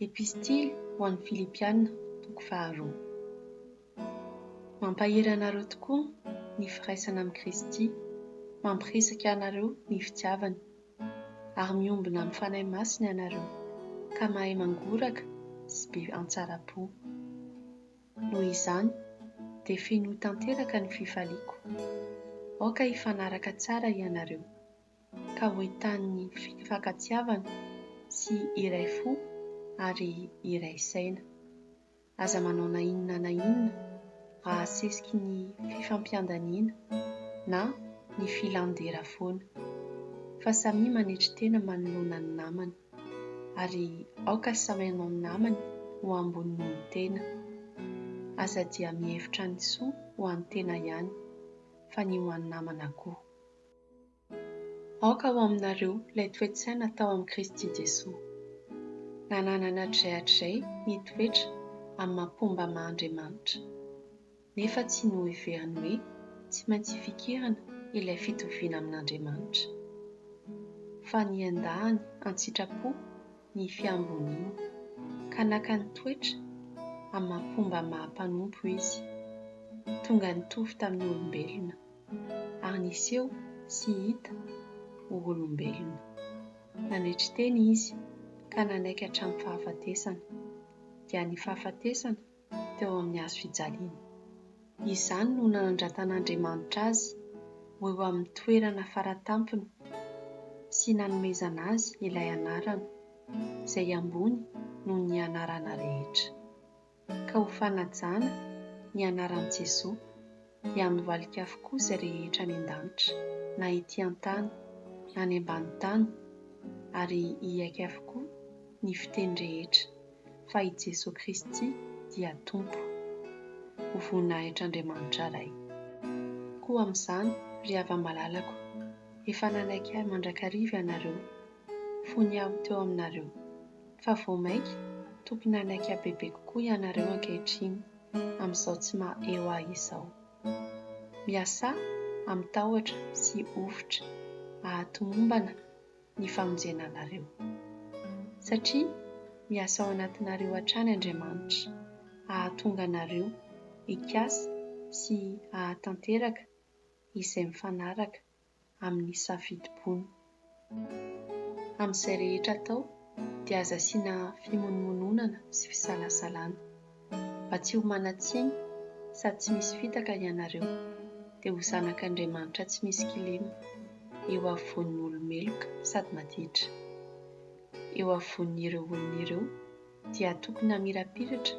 Epistily ho an'ny Filipiana, toko faharoa. Mampahery anareo tokoa ny firaisana amin'i Kristy, mampirisika anareo ny fitiavana, ary miombona amin'ny Fanahy Masina ianareo, ka mahay mangoraka sy be antsara-po. Noho izany, dia fenoy tanteraka ny fifaliako. Aoka hifanaraka tsara ianareo. ka ho entanin'ny fifankatiavana sy iray fo ary iray saina. Aza manao na inona na inona mba hahasesiky ny fifampiandaniana na ny filan-dera foana, fa samia manetry tena manoloana ny namany, ary aoka samy hanao ny namany ho ambony noho ny tena. Aza dia mihevitra ny soa ho an'ny tena ihany, fa ny ho an'ny namana koa. Aoka ho aminareo ilay toe-tsaina tao amin'i Kristy Jesoa. Nananana hatrizay hatrizay ny toetra amin'ny maha-mpomba maha Andriamanitra, nefa tsy noheveriny hoe tsy maintsy hifikirana ilay fitoviana amin'Andriamanitra. Fa niandany an-tsitrapo ny fiamboniany, ka naka ny toetra amin'ny maha-mpomba maha mpanompo izy, tonga nitovy tamin'ny olombelona. ary niseho sy hita ho olombelona. Nandritry teny izy ka nanaiky hatramin'ny fahafatesana, dia ny fahafatesana teo amin'ny hazo fijaliana. Izany no nanandratan'Andriamanitra azy ho eo amin'ny toerana faratampony sy nanomezana azy ilay anarana izay ambony noho ny anarana rehetra. ka ho fanajana ny anaran'i Jesoa, dia amin'ny valika avokoa izay rehetra any an-danitra, na ety an-tany, na any ambany tany, ary hiaiky avokoa ny fiteny rehetra fa i Jesoa Kristy dia Tompo, ho voninahitr'Andriamanitra Ray. Koa amin'izany, ry hava-malalako, efa nanaiky Ahy mandrakariva ianareo, vao niaro teo aminareo. Fa vao mainka tokony hanaiky habebe kokoa ianareo ankehitriny amin'izao tsy maha-eo ahy izao. Miasà amin'ny tahotra sy hovitra hahatomombana ny famonjena anareo. Satria miasa ao anatinareo hatrany Andriamanitra hahatonga anareo hikasa sy hahatanteraka izay mifanaraka amin'ny safidim-pony. Amin'izay rehetra atao dia aza asiana fimonomononana sy fisalasalana. Mba tsy ho manan-tsiny sady tsy misy fitaka ianareo dia ho zanak'Andriamanitra tsy misy kilema eo afovoan'ny olo-meloka sady maditra. Eo afovoan'ireo olona ireo dia tokony hamirapiratra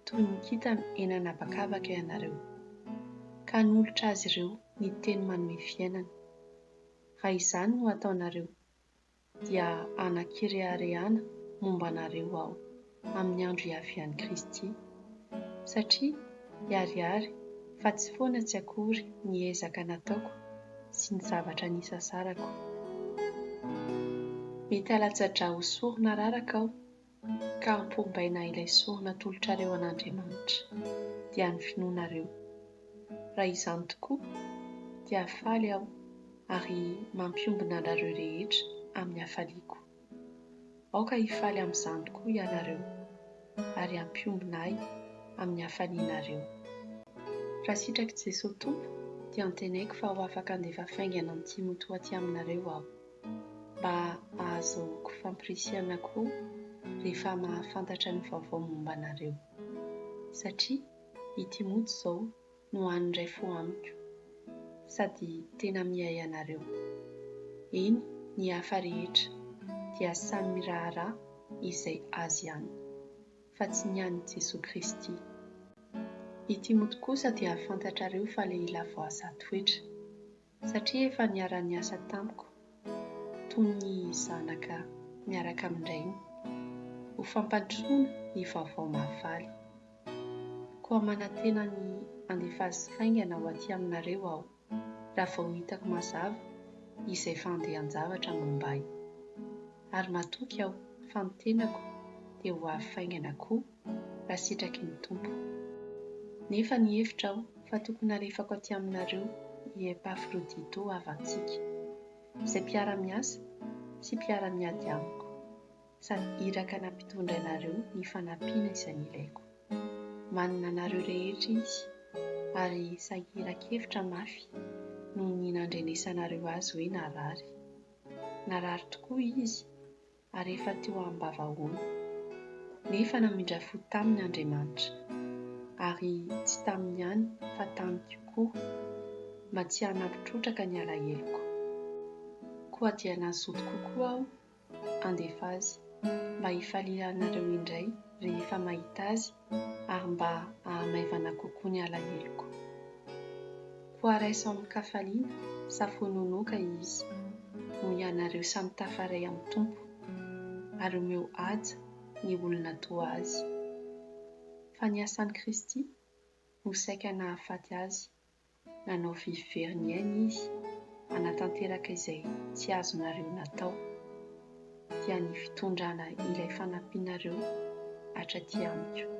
toy ny kintana eny an'habakabaka ianareo, ka hanolotra azy ireo ny teny manome fiainana. Raha izany no hataonareo, dia hanan-kireharehana momba anareo Aho amin'ny andro hiavian'i Kristy, satria hiharihary fa tsy foana tsy akory ny ezaka nataoko sy ny zavatra nisasarako. Mety halatsa-drà ho sorona araraka aho ka ampombaina ilay soa natolotrareo an'Andriamanitra, dia ny finoanareo. Raha izany tokoa, dia faly aho ary mampiombona anareo rehetra amin'ny hafaliako. Aoka hifaly amin'izany tokoa ianareo, ary hampiombona ahy amin'ny hafalianareo. Raha sitrak'i Jesoa Tompo, dia antenaiko fa ho afaka handefa faingana an'i Timoty ho aty aminareo aho. mba ahazoako famporisihana koa rehefa mahafantatra ny vaovao momba anareo. Satria i Timoty izao no hany iray fo amiko, sady tena miahy anareo. Eny, ny hafa rehetra dia samy miraharaha izay azy ihany, fa tsy ny an'i Jesoa Kristy. I Timoty kosa dia fantatrareo fa lehilahy voaza toetra. satria efa niara-niasa tamiko toy ny zanaka miaraka amin-drainy, ho fampandrosoana ny Vaovao Mahafaly. Koa manantena ny handefa azy haingana ho aty aminareo aho, raha vao hitako mazava izay fandehan-javatra momba ahy. Ary matoky aho fa ny tenako dia ho avy faingana koa raha sitraky ny Tompo. Nefa nihevitra aho fa tokony halefako aty aminareo i Epafrodito havantsika, izay mpiara-miasa sy mpiara-miady amiko, sady iraka nampitondra anareo ny fanampiana izay nilaiko. Manana anareo rehetra izy, ary sahiran-kevitra mafy noho ny nandrenesanareo azy hoe narary. Narary tokoa izy, ary efa teo am-bavahoany, nefa namindra fo taminy Andriamanitra, ary tsy taminy ihany fa tamiko koa, mba tsy hanampy trotraka ny alaheloko. Koa dia nazoto kokoa aho handefa azy, mba hifalianareo indray rehefa mahita azy, ary mba hahamaivana kokoa ny alaheloko. Koa raiso amin-kafaliana sa fononoka izy, hoy ianareo samy tafaray amin'ny Tompo, ary omeo haja ny olona toa azy. Fa ny asan'i Kristy no saika nahafaty azy Nanao vy very ny ainy izy hanatanteraka izay tsy azonareo natao. Dia ny fitondrana ilay fanampianareo hatraty amiko.